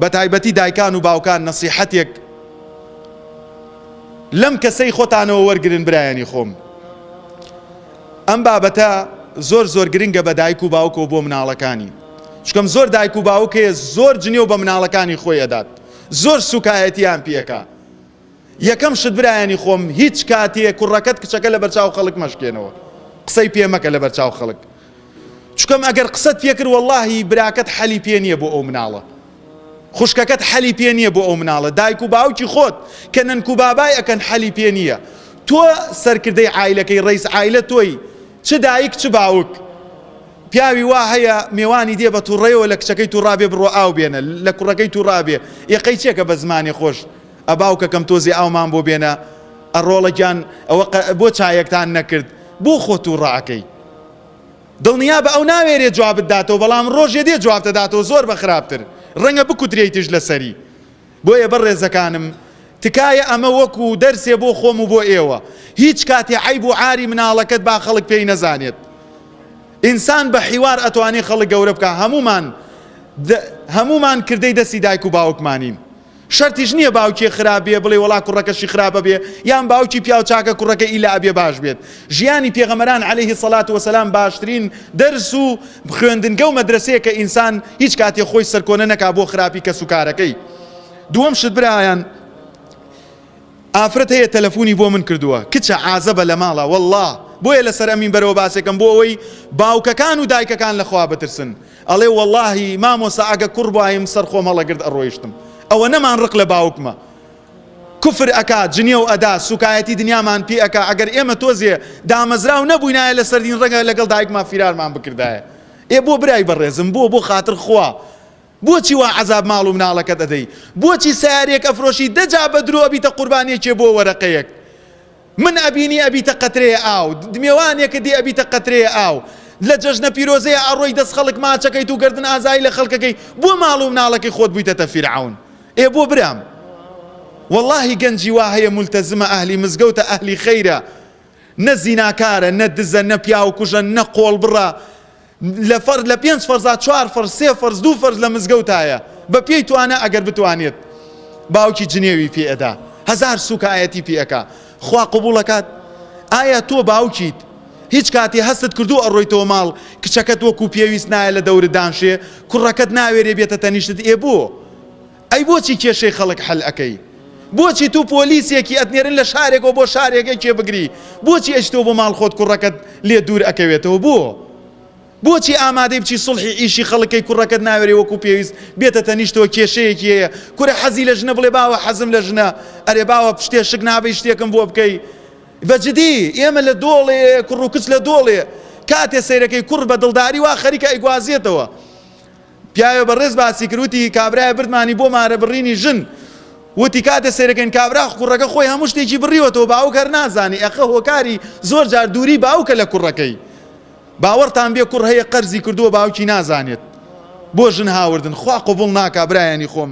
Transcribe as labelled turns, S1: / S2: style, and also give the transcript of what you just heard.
S1: بەتایبەتی دایکان و باوکان نەسیحەتێک لەم کەسەی خۆتانەوە وەرگن برایانی خۆم ئەم بابەتە زۆر زۆر گرنگە بە دایک و باوکەوە بۆ مناڵەکانی چکەم زۆر دایک و باوکێ زۆر جنێو بە مناڵەکانی خۆی ئەدات زۆر سوکایەتیان پێەکە یەکەم شت برایانی خۆم هیچ کاتێ کوڕەکەت کچەکە لە بەرچاو خەڵک مەشکێنەوە قسەی پێ مەکە لە بەرچاو خەڵک چکەم ئەگەر قسەت پێکرد واللهی براکەت حەلی پێ نییە بۆ ئەو مناڵە خوشکەکەت حەلی پێ نییە بۆ ئەو مناڵە دایک و باوکی خۆت کە نەنک و بابای ئەکەن حەلی پێ نییە تۆ سەرکردەی عیلەکەی ڕیس عیلە تۆی چ دایک چ باوک پیاوی وا هەیە مێوانی دێ بە توڕێەوە لە کچەکەی توڕابێ بڕۆ ئاو بێنە لە کوڕەکەی توڕابێ یەقەی چێکە بە زمانی خۆش ئە باوکەکەم تۆزێ ئاومان بۆ بێنە ئە ڕۆڵە گیان ئەوە بۆ چایەکتان نەکرد بۆ خۆ تو ڕاکەی دڵنیا بە ئەو ناوێرێ جوابت داتەوە بەڵام ڕۆژێ دێ جوابتە داتەوە زۆر بە خراپتر ڕەنگە بکوترێتیش لەسەری بۆیە بە ڕێزەکانم تکایە ئەمە وەکو دەرسێ بۆ خۆم و بۆ ئێوە هیچ کاتێ عیب و عاری مناڵەکەت با خەڵک پێی نەزانێت ئینسان بە حیوار ئەتوانی خەڵک گەورە بکە هەمومان هەمومان کردەی دەستی دایک و باوکمانین شەرتیش نیە باوکێ خراپ بێ بڵێ وەڵا کوڕەکەشی خراپە بێ یان باوکی پیاو چاکە کوڕەکە ئیلا ئەبێ باش بێت ژیانی پێغەمەران علیه سەلات وسلام باشترین دەرس و خوێندنگە و مەدرەسەیە کە ئینسان هیچ کاتێ خۆی سەرکۆنە نەکا بۆ خراپی کەس و کارەکەی دووەم شت برایان ئافرەت هەیە تەلەفونی بۆ من کردووە کچە عازەبە لە ماڵە والله بۆیە لەسەر ئەمین بەرەوە باسێکم بۆ ئەوەی باوکەکان و دایکەکان لەخوا بترسن ئەڵێ وەڵاهی مامۆسا ئەگە کوڕ بوایم سەر خۆم هەڵەگرت ئەڕۆیشتم ئەوەنەمان ڕق لە باوکمە کفر ئەکا جنێو ئەدا سوکایەتی دنیامان پێ ئەکا ئەگەر ئێمە تۆزێ دامەزراو نەبووینایە لە سەردین ڕەنگە لەگەڵ دایکمان فیرارمان بکردایە ئێ بۆ برای بەڕێزم بۆ بۆ خاتر خوا بۆچی وا عذاب ماڵ و مناڵەکەت ئەدەی بۆچی سیارێک ئەفرۆشی دەجا بە درۆ ئەبیتە قوربانیەکێ بۆ وەرەقەیەک من ئەبینی ئەبیتە قەترەیە ئاو دمێوانێکت دی ئەبیتە قەترەیە ئاو لە جەژنە پیرۆزەیە ئەڕۆی دەست خەڵک ماچەکەیت و گەردن ئازایی لە خەڵکەکەی بۆ ماڵ و مناڵەکەی خۆت بویتەتە فیرعەون ئێ بۆ برام وەڵاهی گەنجی وا هەیە مولتەزمە ئەهلی مزگەوتە ئەهلی خەیرە نە زیناکارە نە دزە نە پیاوکوژە نە قۆڵبڕە لە فەرز لە پێنج فەرزا چوار فەرز سێ فەرز دوو فەرز لە مزگەوتایە بە پێی توانا ئەگەر بتوانێت باوکی جنێوی پێ ئەدا هەزار سوکایەتی پێ ئەکا خوا قبوڵەکات ئایا تۆ باوکیت هیچ کاتی هەستت کردو ئەڕۆیتەوە ماڵ کچەکەت وەکو پێویست نایە لە دەورت دانشێ کوڕەکەت ناوێرێ بێتە تەنیشتت ئێ بۆ ئەی بۆچی کێشەی خەڵک حل ئەکەی بۆچی توو پۆلیسێکی ئەتنێرن لە شارێکەوە بۆ شارێکەی کێ بگری بۆچی ئەیچتەوە بۆ ماڵ خۆت کوڕەکەت لێ دوور ئەکەوێتەوە بۆ بۆچی ئامادەی بچی سڵحی ئیشی خەڵکەی کوڕەکەت ناوێری وەکو پێویست بێتە تەنیشتەوە کێشەیەکی هەیە کورە حەزی لە ژنە بڵێ باوە حەزم لە ژنە ئەرێ باوە پشتێ شک نابی شتێکم بۆ بکەی بەجدی ئێمە لە دۆڵێ کوڕ و کچ لە دۆڵێ کاتێ سەیرەکەی کوڕ بە دڵداری وا خەریکە ئەیگوازێتەوە پیاوێ بەڕێز باسی کرد وتی کابرایە بردمانی بۆ مارە بڕینی ژن وتی کاتێ سێرەکەین کابرا کوڕەکە خۆی هەموو شتێکی بڕیوەتەوە باوک هەر نازانی ئەخە هۆکاری زۆر جار دووری باوکە لە کوڕەکەی باوەڕتان بێ کوڕ هەیە قەرزی کردووە باوکی نازانێت بۆ ژن هاوردن خوا قوبڵ ناکا برایانی خۆم